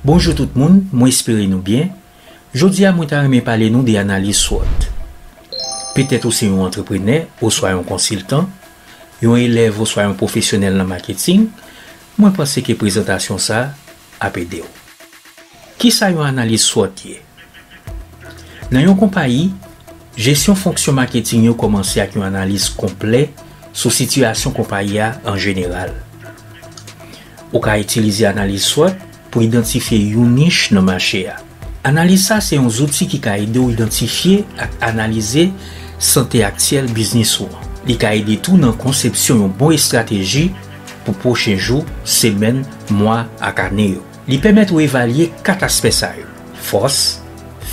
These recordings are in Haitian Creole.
Bonjou tout moun, mwen espere nou byen. Jodi a mwen ta renmen pale nou de analiz swot. Petèt ou se yon antreprenè oswa yon konsiltan, yon elèv oswa yon pwofesyonèl nan maketing, mwen panse ke prezantasyon sa ap ede w. Kisa yon analiz swot ye? Nan yon konpayi, jesyon fonksyon maketing yo kòmanse ak yon analiz konplè sou sitiyasyon konpayi a an jeneral. Ou ka itilize analiz swòt pou idantifye yon nich nan mache a. Analiz sa se yon zouti ki ka ede w idantifye ak analize sante aktyèl biznis ou an. Li ka ede tou nan konsepsyon yon bon estrateji pou pwochen jou, semèn, mwa ak ane yo. Li pèmèt ou evalye 4 aspè sa yo, fòs,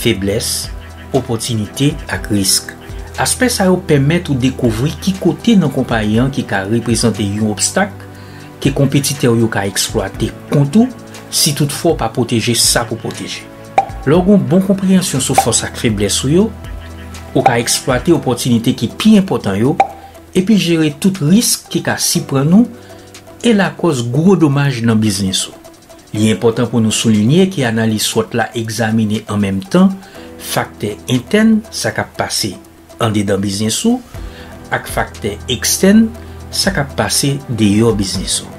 feblès, opòtinite ak risk. Aspè sa yo pèmèt ou dekouvri ki kote nan konpayi an ki ka reprezante yon obstak, ke konpetitè w yo ka eksplwate kont ou si tout fwa w pa pwoteje sa pou pwoteje. Lè w gen yon bon konpreyansyon sou fòs ak feblès ou yo, ou ka eksplwate opòtinite ki pi enpòtan yo epi jere tout risk ki ka siprann ou e lakòz gwo domaj nan biznis ou. Li enpòtan pou nou soulinye ke analiz swòt la egzamine an menm tan faktè entèn sa k ap pase, andedan biznis ou ak faktè ekstèn, sa k ap pase deyò biznis ou.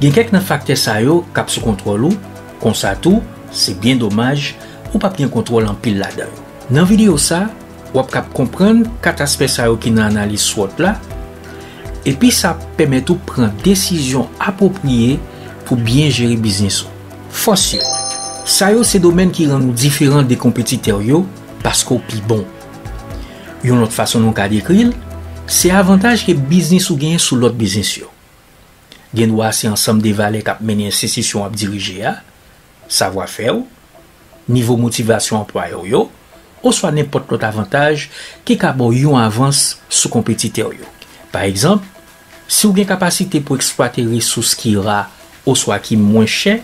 Gen kèk nan faktè sa yo k ap sou kontwòl ou, konsa tou, se byen domaj, ou pap gen kontwòl anpil ladan yo. Nan videyo sa, w ap kab konprann 4 aspè sa yo ki nan analiz SWOT la, epi sa ap pèmèt ou pran desizyon apwopriye pou byen jere biznis ou. Fòs yo. Sa yo se domèn ki rann ou diferan de konpetitè w yo paske w pi bon. Yon lòt fason nou ka dekri l, se avantaj ke biznis ou genyen sou lòt biznis yo. Gen dwa se ansanm de valè k ap mennen enstitisyon w ap dirije a, savwa fè w, nivo motivasyon anplwayè w yo, oswa nenpòt lòt avantaj ki ka ba w yon avans sou konpetitè w yo. Pa egzanp, si w gen kapasite pou eksplwate resous ki ra oswa ki mwen chè,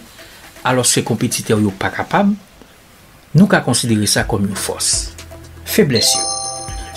alòske konpetitè w yo pa kapab, Nou ka konsidere sa kòm yon fòs. Feblès yo.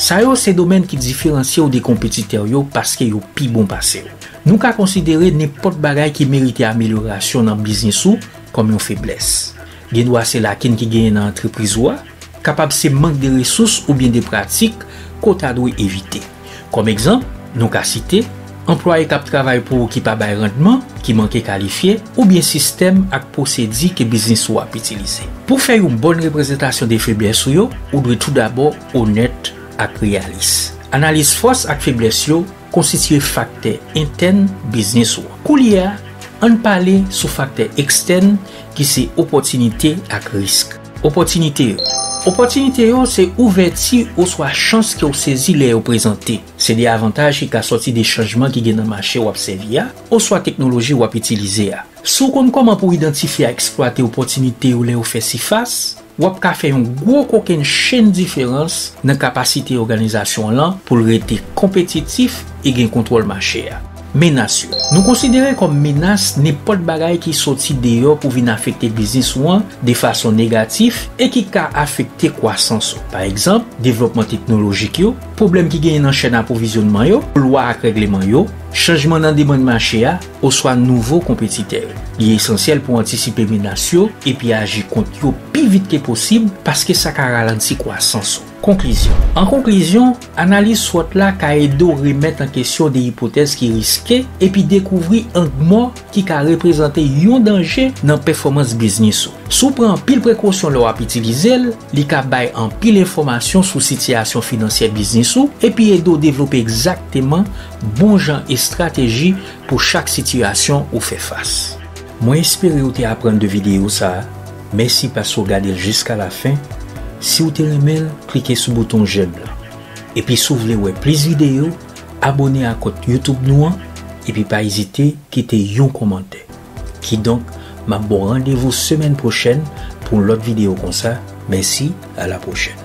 Sa yo se domèn ki diferansye w de konpetitè w yo paske yo pi bon pase w. Nou ka konsidere nenpòt bagay ki merite amelyorasyon nan biznis ou kòm yon feblès. Gendwa se lakin ki genyen nan antrepriz ou a, kapab se mank de resous oubyen de pratik ke w ta dwe evite. Kòm egzanp, nou ka site, anplwaye k ap travay pou ou ki pa bay randman, ki manke kalifye, oubyen sistèm ak pwosedi ke biznis ou ap itilize. Pou fè yon bòn reprezantasyon de feblès ou yo, ou dwe toudabò onèt ak reyalis. Analize fòs ak feblès yo konstitye faktè entèn biznis ou. Koulye a, ann pale sou faktè ekstèn ki se opòtinite ak risk. Opòtinite yo. Opòtinite yo se ouvèti oswa chans ke w sezi lè yo prezante. Se de avantaj ki ka sòti de chanjman ki gen nan mache w ap sèvi a oswa teknoloji w ap itilize a. Si w konn kòman pou w idantifye ak eksplwate opòtinite yo lè yo fè sifas, w ap ka fè yon gwo kokenn chenn diferans nan kapasite òganizasyon w lan pou l rete konpetitif e gen kontwòl mache a. Menas yo. Nou konsidere kòm menas nenpòt bagay ki soti deyò pou vin afekte biznis ou an de fason negatif e ki ka afekte kwasans ou. Pa egzanp, devlòpman teknolojik yo, pwoblèm ki genyen nan chèn apwovizyonnman yo, lwa ak règleman yo, chanjman nan demann mache a, oswa nouvo konpetitè yo. Li esansyèl pou antisipe menas yo epi aji kont yo pi vit ke posib paske sa ka ralanti kwasans ou. Konklizyon An konklizyon, analiz SWOT la ka ede w remèt an kesyon de ipotèz ki riske epi dekouvri ang mò ki ka reprezante yon danje nan pèfòmans biznis ou. Si w pran anpil prekosyon lè w ap itilize l, li ka bay anpil enfòmasyon sou sitiyasyon finansyè biznis ou epi ede w devlope egzakteman bon jan estrateji pou chak sitiyasyon ou fè fas. Mwen espere ou te aprann de videyo sa a. Mèsi paske w gade l jiska lafen, si w te renmen l klike sou bouton jèm lan. Epi si w vle wè plis videyo, abone a kont YouTube nou an epi pa ezite kite yon kòmantè. Kidonk m ap ba w randevou semèn pwochèn pou yon lòt videyo konsa, mèsi a la pwochèn.